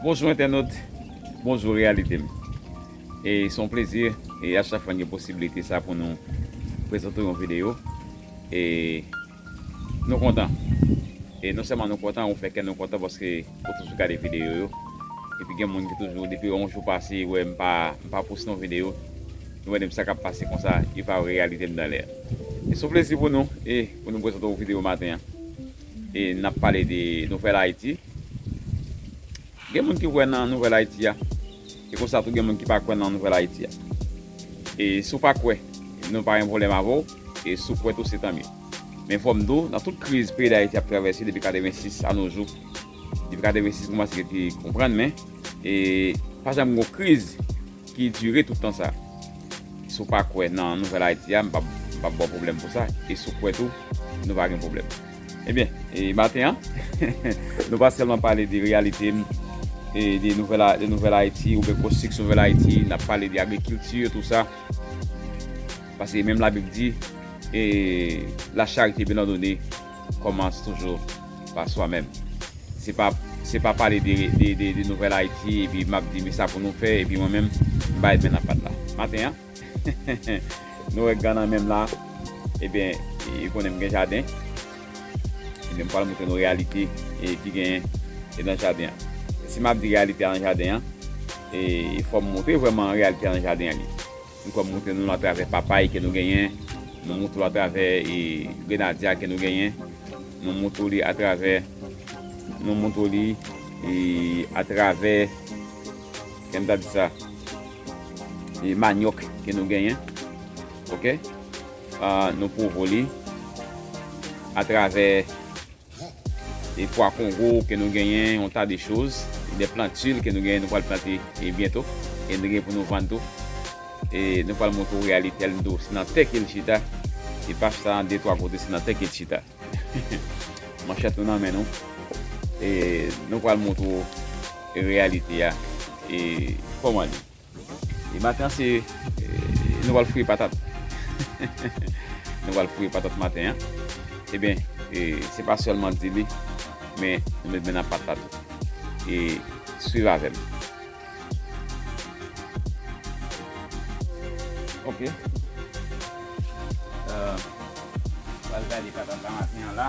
Bonjou entènot, bonjou reyalite m. E se yon plezi e a chak fwa n gen posibilite sa pou nou prezante w yon videyo. E nou kontan. E non sèlman nou kontan, ou fè kè nou kontan paske ou toujou gade videyo yo. Epi gen moun ki toujou depi yon jou pase yo wè m pa m pa poste yon videyo, yo mande m sa k ap pase konsa, yo pa wè reyalite m dan lè a. E se yon plezi pou nou e pou nou prezante w videyo maten an. E n ap pale de Nouvèl Ayiti. Gen moun ki kwè nan Nouvèl Ayiti a. E konsa tou gen moun ki pa kwè nan Nouvèl Ayiti a. E si w pa kwè, nou pa gen pwoblèm avè w. E si w kwè tou se tanmye. Men fò m di w, nan tout kriz peyi Dayiti ap travèse depi 86 anojou. Depi 86 m koumanse gen ti konprann men. E pa janm gen yon kriz. ki dure tout tan sa si w pa kwè nan nouvèl Ayiti a m pap m pap ba w pwoblèm pou sa e si w kwè tou nou pa gen pwoblèm ebyen e maten an nou pa sèlman pale de reyalite m e de nouvèl a de nouvèl Ayiti oubyen konstriksyon nouvèl Ayiti n ap pale de agrikilti e tou sa paske menm labib di e la charite byen òdone kòmanc toujou pa swa menm. Se pa se pa pale de de nouvèl Ayiti epi m ap di men sa pou nou fè epi mwen menm m bay men nan pat la. Maten an nou wè gan nan men m la ebyen ou konnen m gen jaden ebyen m pral montre nou reyalite ki genyen nan jaden an. Si m ap di reyalite a nan jaden an e fò m montre vrèman reyalite a nan jaden an li. Nou kòm moute nou atravè papay ke nou genyen, nou moute ou atravè grenadya ke nou genyen, nou moute ou li atravè, nou moute ou li atravè, jan m ta di sa, manyòk ke nou genyen, ok, nou pwouve ou li atravè. E pwa kongo ke nou genyen yon ta de choz e de plantul ke nou genyen nou pwal plante e byento e nou genyen pou nou vann tou e nou pwal montre w realitel nou tou se nan tè kel chita e pa chita nan de twa kote se nan tè kel chita manchèt nou nan men nou e nou pwal montre w realitea e koman li. E maten an se nou pral fouye patat. Nou pral fouye patat maten an. Ebyen, se pa sèlman di li, men nou met men nan pat la tou. E swiv avè m. Ok. Pral gade patat la maten an la.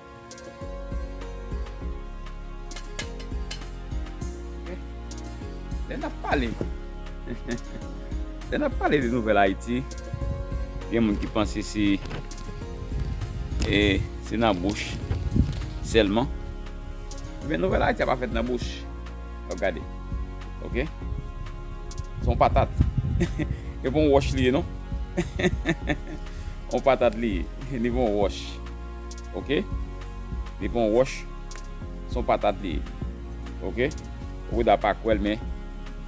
Lè n ap pale Lè n ap pale de nouvèl Ayiti gen moun ki panse se se nan bouch sèlman men nouvèl Ayiti a pa fèt nan bouch ap gade ok se yon patat e pa yon wòch li ye non yon patat li ye li pa yon wòch ok li pran wòch son patat li ye ok Roda pa kwèl men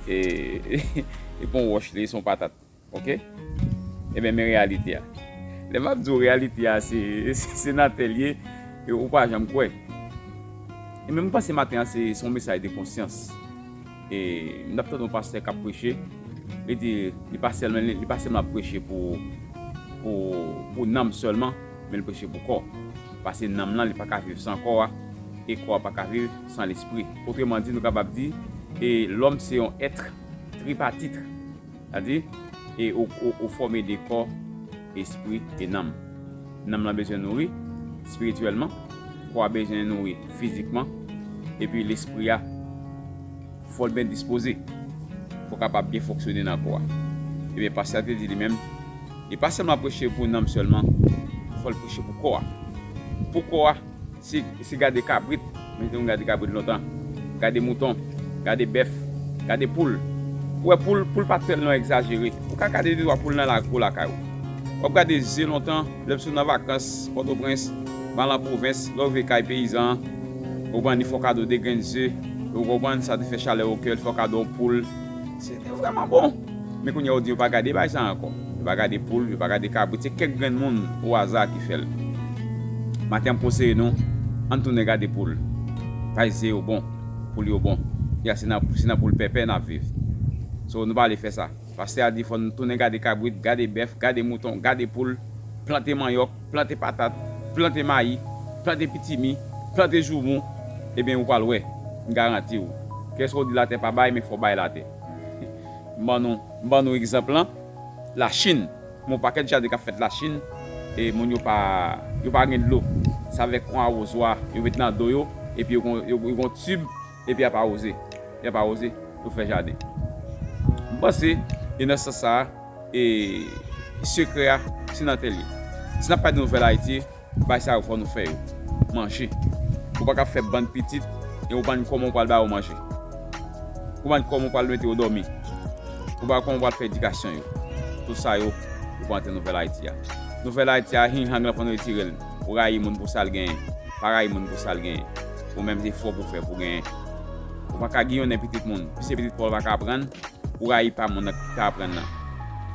e li pran wòch li son patat ok e men men reyalite a lè map di w reyalite a se se nan tè l ye ou pa janm kwè e men m panse maten an se son mesaj de konsyans e m tap tande yon pastè kap preche li di li pa sèlman li pa sèlman ap preche pou pou pou nanm sèlman men li preche pou kò, pase nanm lan li pa ka viv san kò a, e kò a pa ka viv san lespri. Otreman di, nou kapab di, e lòm se yon èt tripatit, sètadi, e ou fòme de kò, espri, e nanm. Nanm lan bezwen nouri, spirityèlman, kò a bezwen nouri, fizikman, epi lespri a. Fò l byen dispoze pou kapab byen fonksyone nan kò a. Ebyen, pastè a te di li menm, Li pa sèlman preche pou nanm sèlman, fò l preche pou kò a. Pou kò a, se gade kabrit, mwen te konn gade kabrit lontan, gade mouton, gade bèf, gade poul. Ou wè poul, poul pa tèlman egzajere. Ou ka gade de twa poul nan lakou lakay ou. W ap gade ze lontan, lè w sot nan vakans Pòtoprens, m al nan pwovens, lè w rive kay peyizan an, ou ban ni fò kado de grenn ze, Ou konprann sa te fè chalè o kèl fè w kado yon poul se te vrèman bon men kounye a ou di yo pa gade bagay sa ankò yo pa gade poul yo pa gade kabrit se kèk grenn moun o aza ki fè l maten m konseye nou ann tounen gade poul bay ze yo bon poul yo bon y a se nan se nan poul pèpè n ap viv so nou pa ale fè sa pastè a di fò n tounen gade kabrit gade bèf gade mouton gade poul plante manyòk. Plante patat, plante mayi, plante pitimi, plante joumou, eben ou pral wè, m garanti w. Kèsa w di latè pa bay men fò w bay latè. M ban nou, m ban nou egzanp lan, Lachin, m on pakèt jaden k ap fèt Lachin e moun yo pa, yo pa gen dlo, s avèk on awozwa yo met nan do yo epi yo gon, yo gon tib. epi yap awoze, yap awoze pou fè jaden. M panse e nan sans sa a e sekrè a se nan tè l ye. Si nap pale de nouvèl Ayiti, bagay sa yo fò nou fè yo. Manje. Ou pa ka fè bann pitit e ou pa knnen kòman ou pral ba yo manje. Ou pa knnen kòman ou pral mete yo dòmi. Ou pa kòman ou pral fè edikasyon yo. Tout sa yo ou pa antre nan nouvèl Ayiti a. Nouvèl Ayiti a hing hang lan fò nou retire l. Ou rayi moun pou sa l genyen. Pa rayi moun pou sa l genyen. Ou menm se fò pou fè pou genyen. Ou pa ka giyonnen pitit moun, piske pitit pa w la pa ka aprann pou rayi pa moun nan ki ka aprann nan.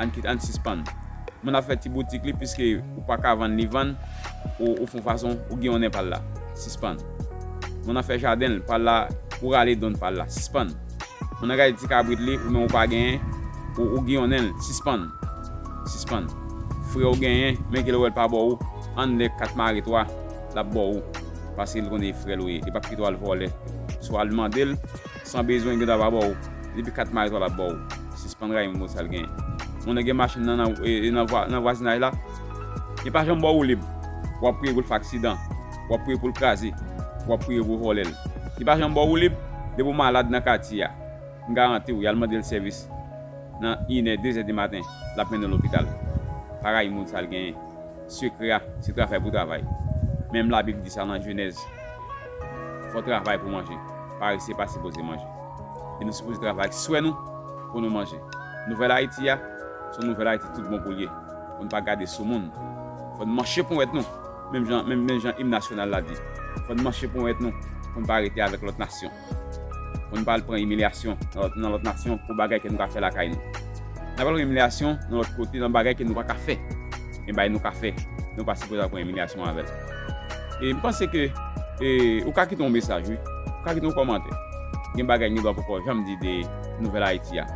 Ann kite, ann sispann. Moun ap fè ti boutik li piske ou pa ka vann li vann, ou fon fason, ou giyonnen pa l la. Sispann. Moun ap fè jaden l pa l la, ou rale donn pa l la. Sispann. Moun nan gade ti kabrit li, ou menm ou pa genyen, ou giyonnen l. Sispann. Sispann. Frè ou genyen, men ke l wè l pa bò ou, ann lè kat mare twa. lap bòw paske li konnen e frèl ou ye e pap kite w al vòlè sou al mandel san bezwen gen dwa pa bòw depi 4 mayo 3 lap bòw sispann rayi moun pou sal genyen moun nan gen machin nan nan vwazinaj la li pa janm bòw woulib wap priye poul fè aksidan wap priye poul kraze wap priye pou vòlèl li pa janm bòw woulib depi ou malad nan katye a m garantiw yal mandel sèvis nan inè dezè di maten lap mennen w lopital pa rayi moun sal genyen. Sekrè a, se travay pou travay. Menm Labib di sa nan Jenèz, Fò travay pou manje. Parese pa sipoze manje. E nou sipoze travay ak swe nou pou nou manje. Nouvèl Ayiti a, se yon nouvèl Ayiti tout bon pou l ye. Fò n pa gade sou moun. Fò n manche ponwèt nou, menm jan im nasyonal la di. Fò n manche ponwèt nou pou n pa rete avèk lòt nasyon. Pou nou pa al pran imilyasyon nan lòt nasyon pou bagay ke nou ka fè lakay nou. N ap al pran imilyasyon nan lòt kote nan bagay ke nou pa ka fè. Men bagay nou ka fè, nou pa sipoze al pran imilyasyon avè l. E m panse ke ou ka kite yon mesaj wi. Ou ka kite yon kòmantè. Gen bagay gen dwa pou pa w janm di de Nouvèl Ayiti a.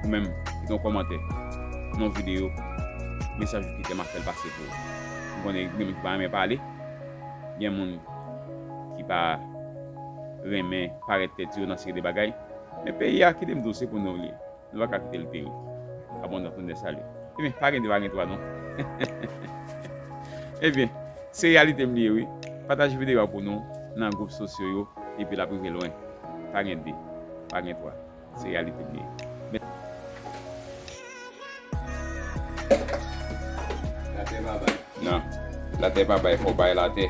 Ou menm, kite yon kòmantè nan yon videyo. Mesaj ou kite m ap fè l pase pou ou. M konnen gen moun ki pa renmen pale. Gen moun ki pa. renmen parèt tèt yo nan seri de bagay, men peyi a kite m di w se pou nou l ye, nou pa ka kite l peri. Abondant Tounde Sali Ebyen, pa gen de pa gen twa non Ebyen, se reyalite m li ye wi Pataje videyo a pou nou nan gwoup sosyo yo epi l ap rive lwen Pa gen de, pa gen twa, se reyalite m li ye. Latè pa bay. Nan. Latè pa bay, fò w bay latè.